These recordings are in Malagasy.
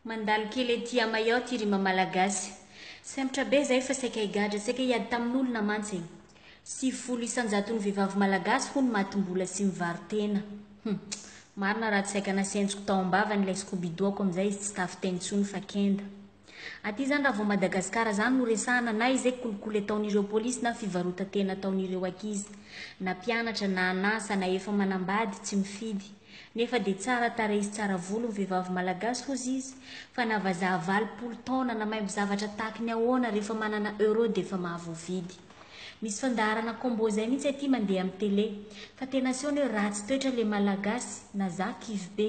Mandalo kely ety à Mayotte ry mamalagasy. Sempotra be zay fa saika higadra, saika hiady tamin'olona mantsy e. Sivifolo isanjaton'ny vehivavy malagasy hono matim-bola sy mivaro-tena. Hum. Marina raha tsy saika nasentiko tao am-bavany ilay scooby-doo-ko amin'izay izy tsy tafiteny intsony fa kenda. Aty zany raha vao Madagascar zany no resahana na izay kolikoly ataon'ireo polisy na fivarotan-tena ataon'ireo ankizy. Na mpianatra na an'asa na efa manambady tsy mifidy. Nefa dia tsara tarehy sy tsara volo ny vehivavy malagasy hozy izy fa na vazaha valopolo taona na maimbo zavatra tahaky ny ahoana rehefa manana euro dia efa mahavoavidy. Misy fandaharana combo zay mihitsy aty mandeha amin'ny tele fa tena asehony hoe ratsy toetra le malagasy na za kivy be.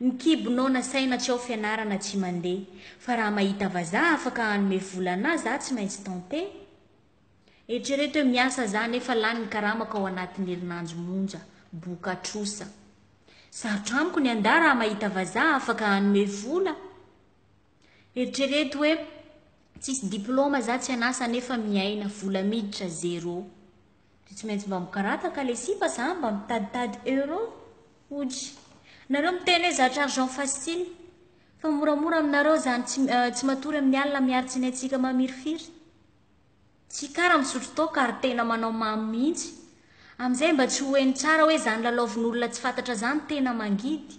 Ny kibo nao nasaina tsy ao fianarana tsy mande fa raha mahita vazaha afaka hanome vola anah za tsy maintsy tente Eritrereto hoe miasa za nefa lany ny karamako ao anatiny herinandro monja boka trosa Sarotra amiko ny anda raha mahita vazaha afaka hanome vola Eritrereto hoe tsisy diploma za tsy anasa nefa miaina vola miditra zero Dia tsy maintsy mba mikarataka le sipa za mba mitaditady euro ody nareo miteny hoe zatra argent facile fa moramora aminareo zany tsy tsy matory amin'ny alina miaro tsinaintsika mamirifiry tsy kara misotro toaka ary tena manao mamo mihitsy amin'izay mba tsy ho heno tsara hoe zany lalaovin'olona tsy fantatra zany tena mangidy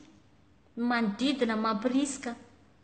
ny manodidina mampirisika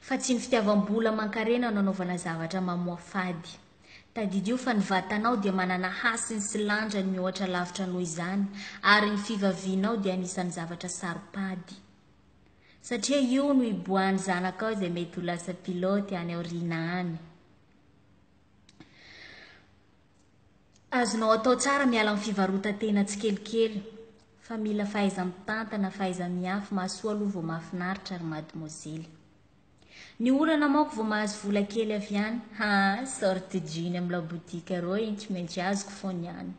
fa tsy ny fitiavam-bola aman-karena no anaovana zavatra mamoafady. Tadidio fa ny vatanao dia manana hasiny sy lanjany mihoatra lavitra noho izany, ary ny fivavianao dia anisan'ny zavatra saro-pady. Satria io no iboahan'ny zanakao izay mety ho lasa pilote any aoriana any. Azonao atao tsara miala amin'ny fivarotan-tena tsikelikely fa mila fahaiza-mitantana, fahaiza-miafy, mahasoa aloha vao mahafinaritra ry madmozely. Ny olana manko vao mahazo vola kely avy any, haa sorte jean amin'ny laboutique reo iny tsy maintsy azoko foana ihany.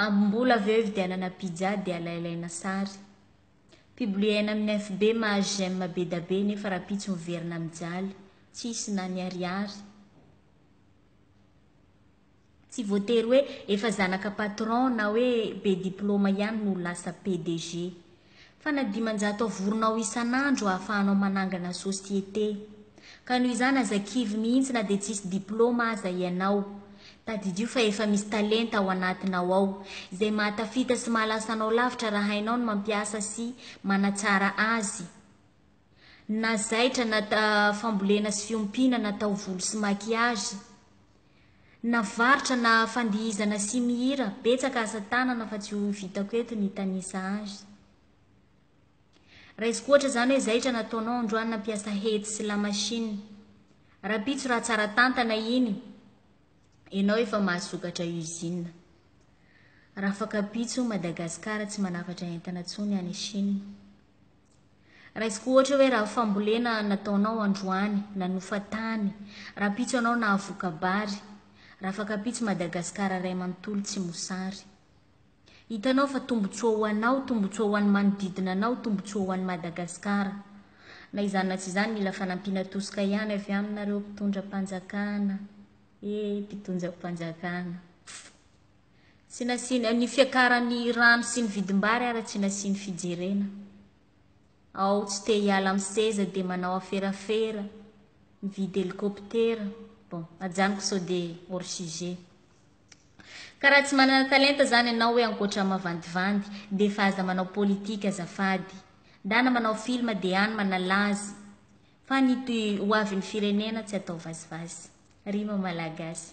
Ambim-bola avy eo ividianana pizza dia alailaina sary. Publier-na amin'ny FB mahazo j'aime be da be nefa rahampitso miverina mijaly, tsisy na ny ariary. Tsy voatery hoe efa zanaka patron na hoe be diploma ihany no ho lasa PDG. Fa na dimanjato avorinao isan'andro ahafahanao manangana société. Ka noho izany aza kivy mihitsy na dia tsisy diploma aza ianao. Tadidio fa efa misy talenta ao anatinao ao, izay mahatafita sy mahalasa anao lavitra raha hainao ny mampiasa sy manatsara azy. na zaitra na fambolena sy fiompiana na taovolo sy maquillage, na varotra na fandihizana sy mihira, betsaka asa tanana fa tsy ho vitako eto ny hitanisa azy. Raisiko ohatra izany hoe zaitra nataonao androany nampiasa hety sy lamasinina, rahampitso raha tsara tantana iny ianao efa mahasokatra usine. Rafakampitso Madagascar tsy manafatra entana tsony any Chine. Raisiko ohatra hoe raha fambolena nataonao androany, nanofa tany, rahampitso ianao nahavoka-bary, rafakampitso Madagasikara iray manontolo tsy mosary. Hitanao fa tombontsoa ho anao, tombontsoa ho an'ny manodidina anao, tombontsoa ho an'i Madagasikara. Na izany na tsy izany mila fanampiana tosika ihany avy aminy nareo mpitondra-panjakana. Ee mpitondra-panjakana. Tsy nasiany, ny fiakaran'ny rano sy ny vidim-bary ara tsy nasiany fijerena. Ao tsy te hiala amin'ny seza dia manao aferafera, mividy helikoptera, bon, ajanoko sao dia hors sujet. Ka raha tsy manana talenta zany ianao hoe ankoatra ny mavandivandy dia efa aza manao politika azafady. Ndana manao film dia any manalaza fa ny hoavin'ny firenena tsy atao vazivazy. Rima malagasy.